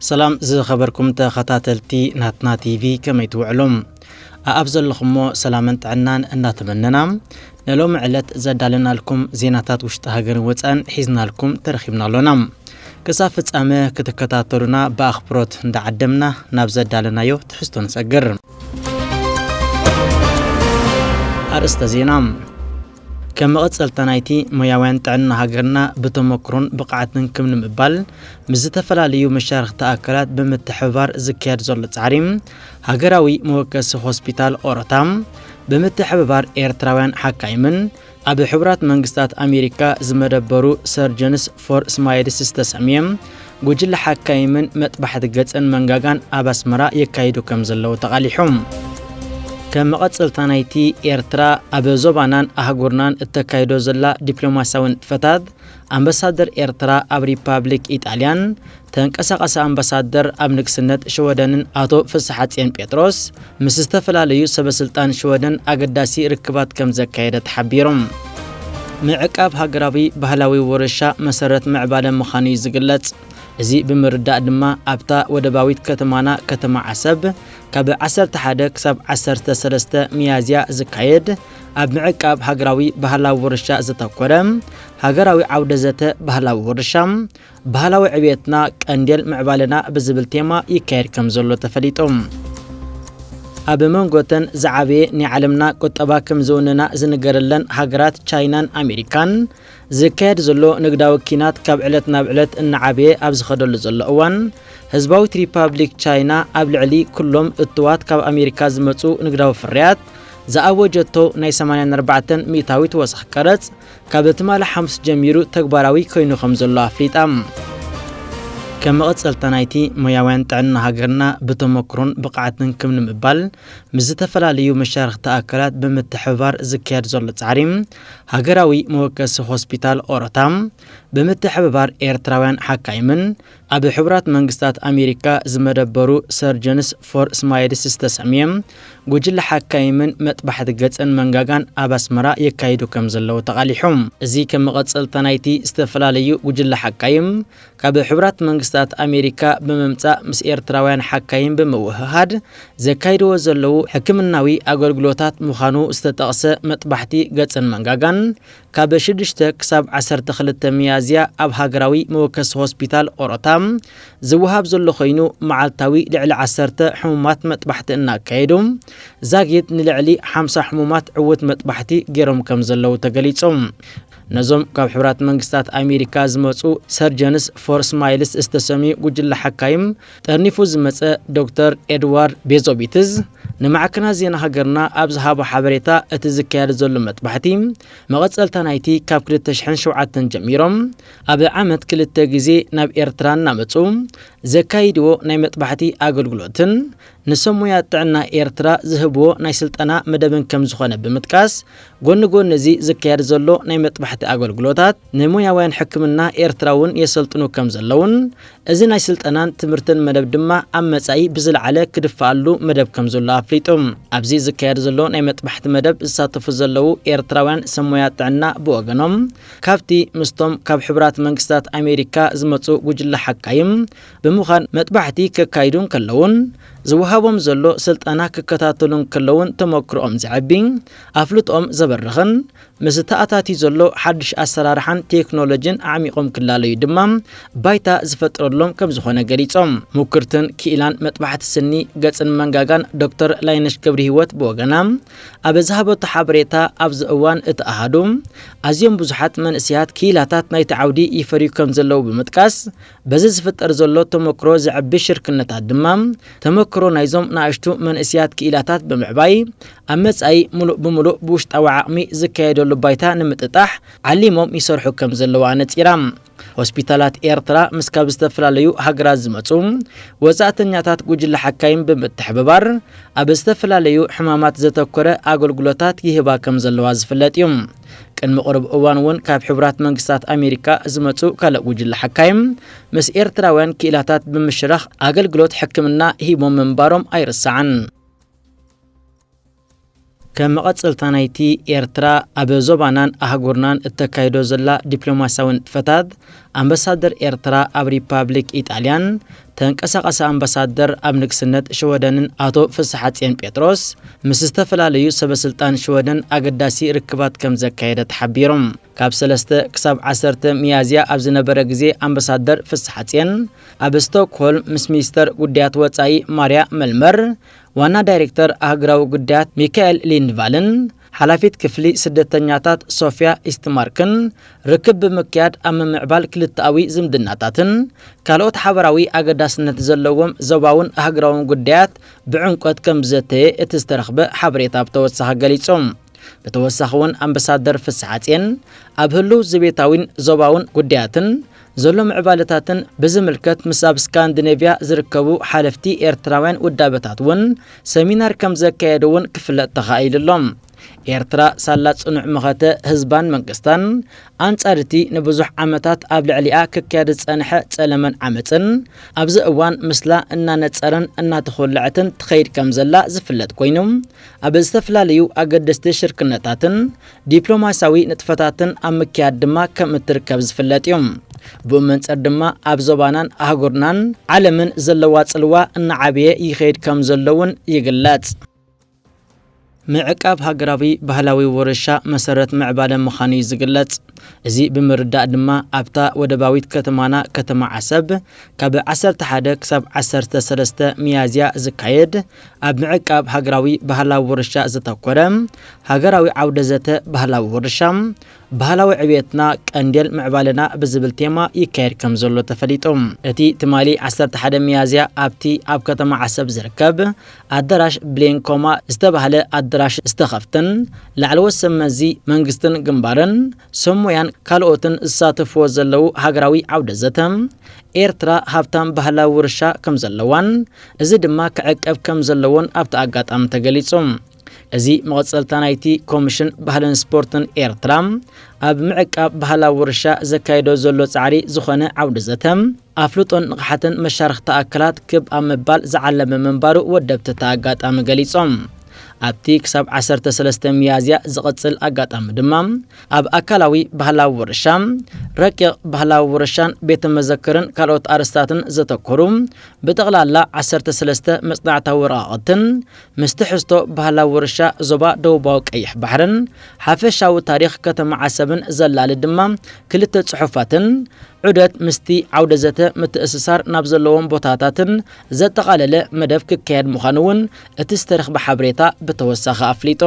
ሰላም ዝኸበርኩም ተኸታተልቲ ናትና ቲቪ ከመይ ትውዕሉ ኣኣብ ዘለኹሞ ሰላምን ጥዕናን እናተመነና ንሎሚ ዕለት ዘዳለናልኩም ዜናታት ውሽጢ ሃገርን ወፃን ሒዝናልኩም ተረኺብና ኣሎና ክሳብ ፍፃመ ክትከታተሉና ብኣኽብሮት እንዳዓደምና ናብ ዘዳለናዮ ትሕዝቶ ንሰግር ኣርእስተ ዜና ከም መቐጸልታ ናይቲ ሞያውያን ጥዕና ሃገርና ብተሞክሮን ብቕዓትን ክም ንምባል ምስ ዝተፈላለዩ መሻርኽቲ ኣካላት ብምትሕብባር ዝካየድ ዘሎ ጻዕሪ ሃገራዊ መወከሲ ሆስፒታል ኦሮታ ብምትሕብባር ኤርትራውያን ሓካይምን ኣብ ሕቡራት መንግስታት ኣሜሪካ ዝመደበሩ ሰርጀንስ ፎር ስማይልስ ዝተሰምየ ጉጅለ ሓካይምን መጥባሕቲ ገጽን መንጋጋን ኣብ ኣስመራ የካይዱ ከም ዘለዉ ተቓሊሑ። ከም መቐጸልታ ናይቲ ኤርትራ ኣብ ዞባናን ኣህጉርናን እተካይዶ ዘላ ዲፕሎማስያዊ ንጥፈታት፣ ኣምበሳደር ኤርትራ ኣብ ሪፓብሊክ ኢጣልያን ተንቀሳቓሲ ኣምባሳደር ኣብ ንግስነት ሽወደንን ኣቶ ፍስሓጽየን ጴጥሮስ ምስ ዝተፈላለዩ ሰበስልጣን ሽወደን ኣገዳሲ ርክባት ከም ዘካየደ ተሓቢሩ። ምዕቃብ ሃገራዊ ባህላዊ ውርሻ መሰረት ምዕባለ ምዃኑ'ዩ ዝግለጽ። እዚ ብምርዳእ ድማ ኣብታ ወደባዊት ከተማና ከተማ ዓሰብ ካብ ዓሰርተ ሓደ ክሳብ ዓሰርተ ሰለስተ ሚያዝያ ዝካየድ ኣብ ምዕቃብ ሃገራዊ ባህላዊ ውርሻ ዘተኮረ ሃገራዊ ዓውደ ዘተ ባህላዊ ውርሻ ባህላዊ ዕብየትና ቀንዴል ምዕባለና ብዝብል ቴማ ይካየድ ከምዘሎ ተፈሊጡ። ኣብ መንጎተን ዝዓበየ ናይ ዓለምና ቁጠባ ከም ዝውንና ዝንገረለን ሃገራት ቻይናን ኣሜሪካን ዝካየድ ዘሎ ንግዳዊ ኪናት ካብ ዕለት ናብ ዕለት እናዓበየ ኣብ ዝኸደሉ ዘሎ እዋን ህዝባዊት ሪፓብሊክ ቻይና ኣብ ልዕሊ ኩሎም እትዋት ካብ ኣሜሪካ ዝመፁ ንግዳዊ ፍርያት ዝኣወጀቶ ናይ 84 ሚእታዊት ወሰኽ ቀረፅ ካብ ትማሊ ሓሙስ ጀሚሩ ተግባራዊ ኮይኑ ከም ዘሎ ኣፍሊጣ። ከም መቐጸልታ ናይቲ ሞያውያን ጥዕና ሃገርና ብተመክሮን ብቕዓትን ክም ንምባል ምስ ዝተፈላለዩ መሻርኽቲ ኣካላት ብምትሕብባር ዝካየድ ዘሎ ጻዕሪ ሃገራዊ መወከሲ ሆስፒታል ኦሮታ ብምትሕብባር ኤርትራውያን ሓካይምን ኣብ ሕቡራት መንግስታት ኣሜሪካ ዝመደበሩ ሰርጀንስ ፎር ስማይልስ ዝተሰምየ ጉጅለ ሓካይምን መጥባሕቲ ገጽን መንጋጋን ኣብ ኣስመራ የካይዱ ከም ዘለዉ ተቓሊሑ። እዚ ከም መቐጸልታ ናይቲ ዝተፈላለዩ ጉጅለ ሓካይም ካብ ሕቡራት መንግስታት ኣሜሪካ ብምምጻእ ምስ ኤርትራውያን ሓካይም ብምውህሃድ ዘካይድዎ ዘለዉ ሕክምናዊ ኣገልግሎታት ምዃኑ ዝተጠቕሰ መጥባሕቲ ገጽን መንጋጋን ካብ ሽዱሽተ ክሳብ ዓሰርተ ክልተ ሚያዝያ ኣብ ሃገራዊ መወከሲ ሆስፒታል ኦሮታ ዝወሃብ ዘሎ ኮይኑ መዓልታዊ ልዕሊ ዓሰርተ ሕሙማት መጥባሕቲ እናካየዱ ዛጊት ንልዕሊ ሓምሳ ሕሙማት ዕውት መጥባሕቲ ገይሮም ከም ዘለዉ ተገሊጹ። ነዞም ካብ ሕቡራት መንግስታት ኣሜሪካ ዝመጹ ሰርጀንስ ፎር ስማይልስ ዝተሰምዩ ጉጅለ ሓካይም ጠርኒፉ ዝመጸ ዶክተር ኤድዋርድ ቤዞቢትዝ ንማዕከናት ዜና ሃገርና ኣብ ዝሃቦ ሓበሬታ እቲ ዝካየድ ዘሎ መጥባሕቲ መቐጸልታ ናይቲ ካብ 2007 ጀሚሮም ኣብ ዓመት ክልተ ግዜ ናብ ኤርትራ እናመጹ ዘካይድዎ ናይ መጥባሕቲ ኣገልግሎትን ንሰብ ሞያ ጥዕና ኤርትራ ዝህብዎ ናይ ስልጠና መደብን ከም ዝኾነ ብምጥቃስ ጎኒ ጎኒ እዚ ዝካየድ ዘሎ ናይ መጥባሕቲ ኣገልግሎታት ንሞያውያን ሕክምና ኤርትራ እውን የሰልጥኑ ከም ዘለዉን እዚ ናይ ስልጠናን ትምህርትን መደብ ድማ ኣብ መጻኢ ብዝለዓለ ክድፈኣሉ መደብ ከም ዘሎ ኣፍሊጡ። ኣብዚ ዝካየድ ዘሎ ናይ መጥባሕቲ መደብ ዝሳተፉ ዘለዉ ኤርትራውያን ሰብ ሞያ ጥዕና ብወገኖም ካብቲ ምስቶም ካብ ሕቡራት መንግስታት ኣሜሪካ ዝመጹ ጉጅለ ሓካይም ብምዃን መጥባሕቲ ከካይዱ እንከለዉን ዝወሃቦም ዘሎ ስልጠና ክከታተሉ እንከለዉን ተመክሮኦም ዘዐቢ ኣፍልጦኦም ዘበርኽን ምስ ተኣታትዩ ዘሎ ሓድሽ ኣሰራርሓን ቴክኖሎጂን ኣዕሚቖም ክላለዩ ድማ ባይታ ዝፈጥረሎም ከምዝኾነ ገሊፆም። ሙክርትን ክኢላን መጥባሕቲ ስኒ፣ ገፅን መንጋጋን ዶክተር ላይነሽ ገብሪሂወት ብወገና ኣብ ዝሃበቶ ሓበሬታ ኣብዚ እዋን እቲ ኣሃዱ ኣዝዮም ብዙሓት መንእሰያት ክኢላታት ናይቲ ዓውዲ ይፈርዩ ከምዘለዉ ብምጥቃስ በዚ ዝፍጠር ዘሎ ተመክሮ ዘዕቢ ሽርክነታት ድማ ተመክሮ ናይዞም ናእሽቱ መንእስያት ክኢላታት ብምዕባይ ኣብ መጻኢ ምሉእ ብምሉእ ብውሽጣዊ ዓቕሚ ዝካየደሉ ባይታ ንምጥጣሕ ዓሊሞም ይሰርሑ ከም ዘለዉ ኣነጺራ። ሆስፒታላት ኤርትራ ምስ ካብ ዝተፈላለዩ ሃገራት ዝመጹ ወጻእተኛታት ጉጅለ ሓካይም ብምትሕብባር ኣብ ዝተፈላለዩ ሕማማት ዘተኮረ ኣገልግሎታት ይህባ ከም ዘለዋ ዝፍለጥ እዩ። ቅድሚ ቅሩብ እዋን እውን ካብ ሕቡራት መንግስታት ኣሜሪካ ዝመፁ ካልእ ጉጅለ ሓካይም ምስ ኤርትራውያን ክኢላታት ብምሽራኽ ኣገልግሎት ሕክምና ሂቦም ምንባሮም ኣይርሳዕን። ከም መቐፀልታ ናይቲ ኤርትራ ኣብ ዞባናን ኣህጉርናን እተካይዶ ዘላ ዲፕሎማስያዊ ንጥፈታት ኣምበሳደር ኤርትራ ኣብ ሪፓብሊክ ኢጣልያን ተንቀሳቓሲ ኣምባሳደር ኣብ ንግስነት ሽወደንን ኣቶ ፍስሓጽየን ጴጥሮስ ምስ ዝተፈላለዩ ሰበስልጣን ሽወደን ኣገዳሲ ርክባት ከም ዘካየደ ተሓቢሩ። ካብ ሰለስተ ክሳብ ዓሰርተ ሚያዝያ ኣብ ዝነበረ ግዜ ኣምባሳደር ፍስሓጽየን ኣብ ስቶክሆልም ምስ ሚኒስተር ጉዳያት ወጻኢ ማርያ መልመር፣ ዋና ዳይሬክተር ኣህግራዊ ጉዳያት ሚካኤል ሊንድቫልን ሓላፊት ክፍሊ ስደተኛታት ሶፍያ ኢስትማርክን ርክብ ብምክያድ ኣብ ምምዕባል ክልተኣዊ ዝምድናታትን ካልኦት ሓበራዊ ኣገዳስነት ዘለዎም ዞባውን ኣህግራውን ጉዳያት ብዕምቆት ከምዝዘተየ እቲ ዝተረኽበ ሓበሬታ ብተወሳኺ ገሊጹ። ብተወሳኺ እውን ኣምበሳደር ፍስሓጽየን ኣብ ህሉው ዘቤታዊን ዞባውን ጉዳያትን ዘሎ ምዕባለታትን ብዝምልከት ምስ ኣብ ስካንዲኔቭያ ዝርከቡ ሓለፍቲ ኤርትራውያን ውዳበታት እውን ሰሚናር ከም ዘካየዱ እውን ክፍለጥ ተኻኢሉ ኣሎ። ኤርትራ ሳላ ጽኑዕ መኸተ ህዝባን መንግስታን፣ ኣንጻር እቲ ንብዙሕ ዓመታት ኣብ ልዕሊኣ ክካየድ ዝጸንሐ ጸለመን ዓመጽን፣ ኣብዚ እዋን ምስላ እናነጸረን እናተኾለዐትን ትኸይድ ከም ዘላ ዝፍለጥ ኮይኑ፣ ኣብ ዝተፈላለዩ ኣገደስቲ ሽርክነታትን ዲፕሎማሲያዊ ንጥፈታትን ኣብ ምክያድ ድማ ከም እትርከብ ዝፍለጥ እዩ። ብኡ መንጽር ድማ ኣብ ዞባናን ኣህጉርናን ዓለምን ዘለዋ ጽልዋ እናዓበየ ይኸይድ ከም ዘሎ እውን ይግለጽ። ምዕቃብ ሃገራዊ ባህላዊ ውርሻ መሰረት ምዕባለ ምዃኑ እዩ ዝግለጽ። እዚ ብምርዳእ ድማ ኣብታ ወደባዊት ከተማና ከተማ ዓሰብ ካብ ዓሰርተ ሓደ ክሳብ ዓሰርተ ሰለስተ ሚያዝያ ዝካየድ ኣብ ምዕቃብ ሃገራዊ ባህላዊ ውርሻ ዘተኮረ ሃገራዊ ዓውደ ዘተ ባህላዊ ውርሻ፣ ባህላዊ ዕብየትና ቀንዴል ምዕባለና ብዝብል ቴማ ይካየድ ከም ዘሎ ተፈሊጡ። እቲ ትማሊ ዓሰርተ ሓደ ሚያዝያ ኣብቲ ኣብ ከተማ ዓሰብ ዝርከብ ኣደራሽ ብሌን ኮማ ዝተባህለ ኣደራሽ ዝተኸፍተን ላዕለዎት ሰብ መዚ መንግስትን ግንባርን ሰብ ሞያን ካልኦትን ዝሳተፍዎ ዘለዉ ሃገራዊ ዓውደ ዘተ፣ ኤርትራ ሃብታም ባህላዊ ውርሻ ከም ዘለዋን እዚ ድማ ክዕቀብ ከም ዘለዎን ኣብቲ ኣጋጣሚ ተገሊጹ። እዚ መቐጸልታ ናይቲ ኮምሽን ባህልን ስፖርትን ኤርትራ ኣብ ምዕቃብ ባህላዊ ውርሻ ዘካይዶ ዘሎ ጻዕሪ ዝኾነ ዓውደ ዘተ፣ ኣፍልጦን ንቕሓትን መሻርኽቲ ኣካላት ክብ ኣብ ምባል ዝዓለመ ምንባሩ ወደብቲ እቲ ኣጋጣሚ ገሊጾም። ኣብቲ ክሳብ ዓሰርተ ሰለስተ ሚያዝያ ዝቕጽል ኣጋጣሚ ድማ፣ ኣብ ኣካላዊ ባህላዊ ውርሻ፣ ረቂቕ ባህላዊ ውርሻን ቤተ መዘክርን ካልኦት ኣርእስታትን ዘተኮሩ ብጠቕላላ ዓሰርተ ሰለስተ መጽናዕታዊ ወረቓቕትን ምስ ትሕዝቶ ባህላዊ ውርሻ ዞባ ደቡባዊ ቀይሕ ባሕርን ሓፈሻዊ ታሪኽ ከተማ ዓሰብን ዘላሊ ድማ ክልተ ጽሑፋትን ዑደት ምስቲ ዓውደ ዘተ ምትእስሳር ናብ ዘለዎም ቦታታትን ዘጠቓለለ መደብ ክካየድ ምዃኑ እውን እቲ ዝተረኽበ ሓበሬታ ብተወሳኺ ኣፍሊጡ።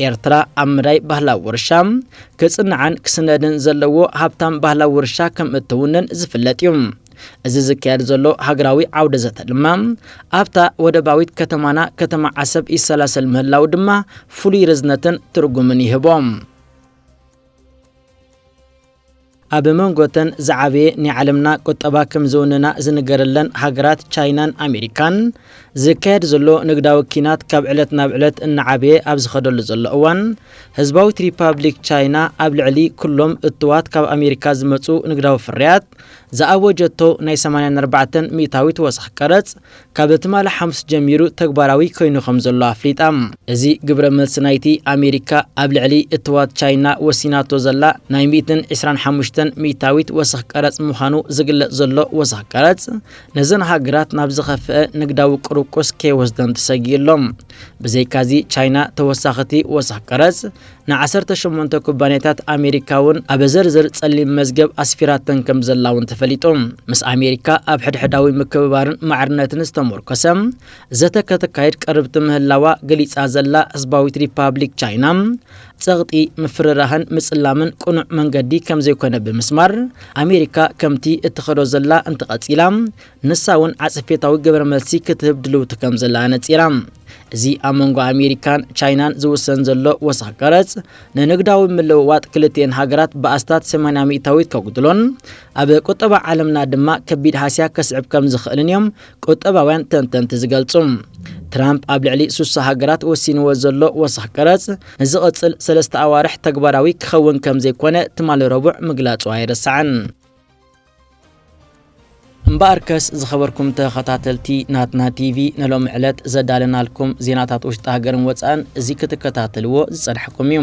ኤርትራ ኣብ መዳይ ባህላዊ ውርሻ ክጽናዕን ክስነድን ዘለዎ ሃብታም ባህላዊ ውርሻ ከም እትውንን ዝፍለጥ እዩ። እዚ ዝካየድ ዘሎ ሃገራዊ ዓውደ ዘተ ድማ ኣብታ ወደባዊት ከተማና ከተማ ዓሰብ ይሰላሰል ምህላው ድማ ፍሉይ ርዝነትን ትርጉምን ይህቦ። ኣብ መንጎ እተን ዝዓበየ ናይ ዓለምና ቁጠባ ከም ዝውንና ዝንገረለን ሃገራት ቻይናን ኣሜሪካን ዝካየድ ዘሎ ንግዳዊ ኪናት ካብ ዕለት ናብ ዕለት እናዓበየ ኣብ ዝኸደሉ ዘሎ እዋን ህዝባዊት ሪፓብሊክ ቻይና ኣብ ልዕሊ ኩሎም እትዋት ካብ ኣሜሪካ ዝመፁ ንግዳዊ ፍርያት ዝኣወጀቶ ናይ 84 ሚእታዊት ወሰኽ ቀረፅ ካብ ትማሊ ሓሙስ ጀሚሩ ተግባራዊ ኮይኑ ከም ዘሎ ኣፍሊጣ። እዚ ግብረ መልሲ ናይቲ ኣሜሪካ ኣብ ልዕሊ እትዋት ቻይና ወሲናቶ ዘላ ናይ ሚእትን ዕስራን ሓሙሽተን ሚእታዊት ወሰኽ ቀረጽ ምዃኑ ዝግለጽ ዘሎ ወሰኽ ቀረጽ ነዘን ሃገራት ናብ ዝኸፍኣ ንግዳዊ ቁርቁስ ከይወስደን ተሰጊኡ ኣሎ። ብዘይካዚ ቻይና ተወሳኺቲ ወሰኽ ቀረጽ ንዓሰርተ ሸሞንተ ኩባንያታት ኣሜሪካ'ውን ኣብ ዘርዘር ጸሊም መዝገብ ኣስፊራተን ከምዘላ'ውን ተፈሊጡ። ምስ ኣሜሪካ ኣብ ሕድሕዳዊ ምክብባርን ማዕርነትን ዝተሞርኮሰ ዘተ ከተካይድ ቅርብቲ ምህላዋ ገሊጻ ዘላ ህዝባዊት ሪፓብሊክ ቻይና፣ ጸቕጢ፣ ምፍርራህን ምጽላምን ቅኑዕ መንገዲ ከምዘይኮነ ብምስማር፣ ኣሜሪካ ከምቲ እትኸዶ ዘላ እንተቐጺላ ንሳ እውን ዓጸፌታዊ ግብረ መልሲ ክትህብ ድልውቲ ከም ዘላ ኣነጺራ። እዚ ኣብ መንጎ ኣሜሪካን ቻይናን ዝውሰን ዘሎ ወሰኽ ቀረጽ ንንግዳዊ ምልውዋጥ ክልቲኤን ሃገራት ብኣስታት 80 ሚእታዊት ከጉድሎን ኣብ ቁጠባ ዓለምና ድማ ከቢድ ሃስያ ከስዕብ ከም ዝኽእልን እዮም ቁጠባውያን ተንተንቲ ዝገልጹ። ትራምፕ ኣብ ልዕሊ ሱሳ ሃገራት ወሲንዎ ዘሎ ወሰኽ ቀረጽ ንዝቕጽል ሰለስተ ኣዋርሕ ተግባራዊ ክኸውን ከም ዘይኮነ ትማሊ ረቡዕ ምግላጹ ኣይርሳዕን። እምበኣርከስ ዝኸበርኩም ተኸታተልቲ ናትና ቲቪ ንሎሚ ዕለት ዘዳለናልኩም ዜናታት ውሽጢ ሃገርን ወፃእን እዚ ክትከታተልዎ ዝፀናሕኩም እዩ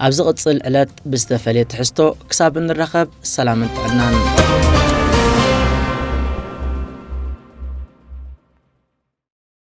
ኣብ ዝቕፅል ዕለት ብዝተፈለየ ትሕዝቶ ክሳብ እንራኸብ ሰላምን ጥዕናን